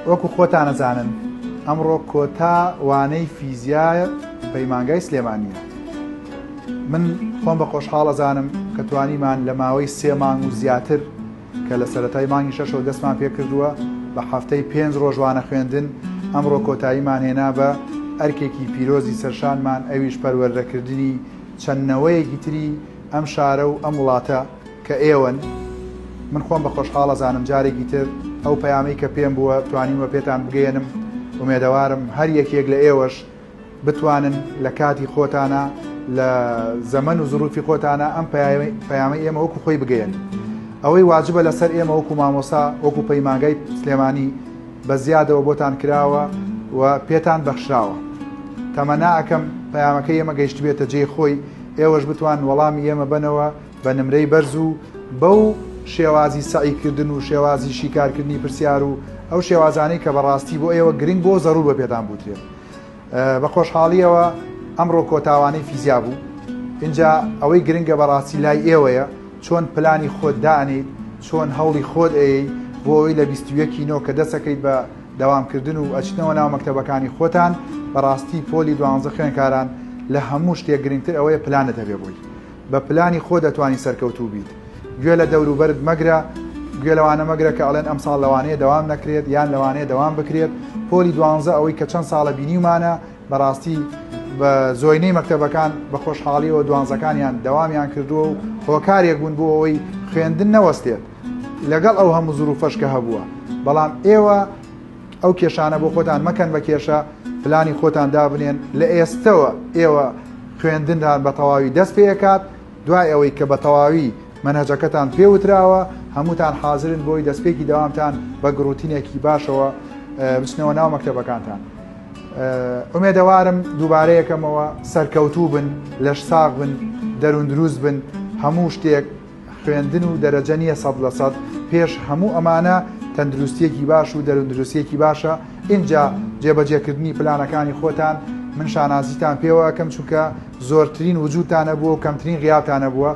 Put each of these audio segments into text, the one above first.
وەکو خۆتان ئەزانن ئەمڕۆ کۆتا وانەی فیزیا پەیمانگای سلێمانیە من خۆم بە خۆشحاڵ ئەزانم کە توانیمان لە ماوەی سێ مانگ و زیاتر کە لە سەتای مانگی شەشەوە دەستمان پێ کردووە بە هەفتەی پێنج ڕۆژوانە خوێندن ئەمڕۆ کۆتاییمان هێنا بە ئەرکێکی پیرۆزی سەرشانمان ئەویش پەروەردەکردنی چەندنەوەیەکی تری ئەم شارە و ئەم وڵاتە کە ئێوەن من خۆم بە خۆشحاڵ ئەزانم جارێکی تر ئەو پەیامەی کە پێم بووە توانیومە پێتان بگەیەنم ئومێدەوارم هەر یەکێک لە ئێوەش بتوانن لە کاتی خۆتانە لە زەمەن و زروفی خۆتانە ئەم پەیامە ئێمە وەکو خۆی بگەیەن ئەوەی واجبە لەسەر ئێمە وەکو مامۆسا وەکو پەیمانگای سلێمانی بە زیادەوە بۆتان کراوە و پێتان بەخشراوە تەمەناکەم پەیامەکە ئێمە گەیشتبێتە جێ خۆی ئێوەش بتوان وەڵامی ئێمە بنەوە بە نمرەی بەرز و بەو شێوازی سەعی کردن و شێوازی شیکارکردنی پرسیار و ئەو شێوازانەی کە بەڕاستی بۆ ئێوە گرنگ بۆ زەڕوو بە پێدان بوترێت بە خۆشحاڵیەوە ئەمڕۆ کۆتاوانەی فیزیا بوو اینجا ئەوەی گرنگە بەڕاستی لای ئێوەیە چۆن پلانی خۆت دانیت چۆن هەوڵی خۆت ئەی بۆ ئەوی لە 21 نۆ کە دەسەکەیت بە داوامکردن و ئەچنەوە ناو مەکتتەبەکانی خۆتان بەڕاستی پۆلی دوانزە خوێنکاران لە هەموو شتێک گرنگتر ئەوەیە پلانت هەبێ بووی بە پلانی خۆت ئەتوانی سەرکەوتوو بیت گوێ لە دەوروبەرت مەگرە گوێ لەوانە مەگرە کە ئەڵێن ئەمساڵ لەوانەیە دەوام نەکرێت یان لەوانەیە دەوام بکرێت پۆلی دوانزە ئەوەی کە چەند ساڵە بینیمانە بەڕاستی بە زۆینەی مەکتتەبەکان بە خۆشحاڵیەوە دوانزەکانیان دەوامیان کردووە و هۆکارێک بوون بۆ ئەوەی خوێندن نەوەستێت لەگەڵ ئەو هەموو زروفەش کە هەبووە بەڵام ئێوە ئەو کێشانە بۆ خۆتان مەکەن بە کێشە، پلانی خۆتان دابنێن، لە ئێستەوە ئێوە خوێندنتان بە تەواوی دەست پێ ئەکات، دوای ئەوەی کە بە تەواوی مەنهەجەکەتان پێ وتراوە، هەمووتان حازرن بۆی دەستپێکی دەوامتان بە گڕوتینێکی باشەوە بچنەوە ناو مەکتەبەکانتان. ئومێدەوارم دووبارە یەکەمەوە سەرکەوتوو بن، لەش ساغ بن، دەروون دروست بن، هەموو شتێک. خوێندن و دەرەجە نییە سەد لە سەد پێش هەموو ئەمانە تەندروستیەکی باش و دەروندروستیەکی باشە ئینجا جێبەجێکردنی پلانەکانی خۆتان من شانازیتان پێوە ئەەکەم چونکە زۆرترین وجودتانە بووە و کەمترین غیاتانە بووە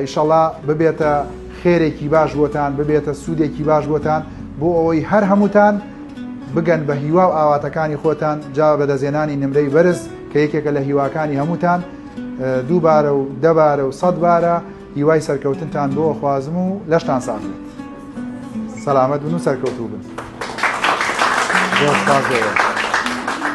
ئیشەڵا ببێتە خێرێکی باش بۆتان ببێتە سوودێکی باش بۆتان بۆ ئەوەی هەر هەمووتان بگەن بە هیوا و ئاواتەکانی خۆتان جا بەدەزێنانی نمرەی بەرز کە یەکێکە لە هیواکانی هەمووتان دووبارە و دەبارە و سەد بارە هیوای سەرکەوتنتان بۆ خوازم و لەشتان ساخێت سەلامەت بن و سەرکەوتوو بن. Deus fazer.